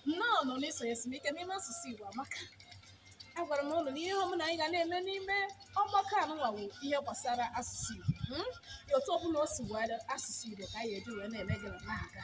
nnọọ nụ n'isonye esumike n'ime asụsụ Igbo amaka agwara m ụnụ na ihe ọbụla anyị ga na-eme n'ime ọgbakọ anụnwa wụ ihe gbasara asụsụ Igbo hmm? ya otu ọbụla o si were asụsụ Igbo ka anyị eji wee na-eme ya na-aga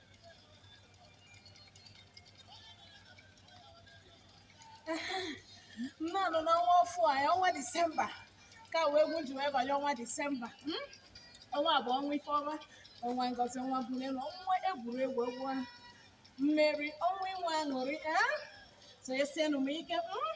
nnọọ nụ n'ọnwa ọfụụ a ọnwa disemba ka wee egwu ji wee banye ọnwa disemba mm? ọnwa bụ ọnwa ifeọma ọnwa ngozi ọnwa mbunelu ọnwa egwuregwu egwu ahụ mmeri ọnwa inwe aṅụrị ah? so esienụ m ike mm?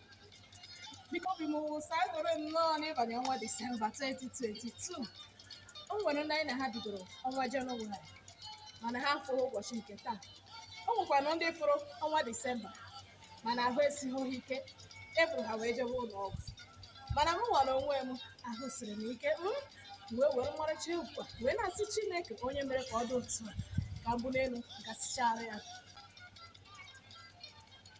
biko obi m wụsa egoro nnọọ n'ịbanye ọnwa disemba 2022 o nwere ndị anyị na ha bidoro ọnwa jenụwarị mana ha afụrọ ụbọchị nke taa o nwekwana ndị fụrụ ọnwa disemba mana ahụ esighị ha ike e buru ha wee jewe ụlọ ọgwụ mana mụnwa onwe m ahụ siri m ike m wee were ọmarịcha egwu wee na-asị chineke onye mere ka ọ dị otu a ka mbunelu gasịchara ya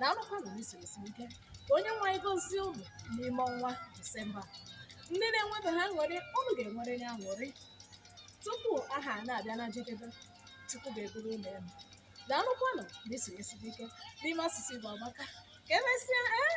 daalụkwa na isoro si ike onye nwe anyị gozie ụnụ n'ime ọnwa disemba ndị na-enwebe ha aṅụrị ụnụ ga-enwere ya aṅụrị tupu ahọ a na-abịa na njedebe chukwu ga-ebuli ụnụ elu daalụkwanụ na isoro si ike n'ime asụsụ igbo amaka ka emesịa ee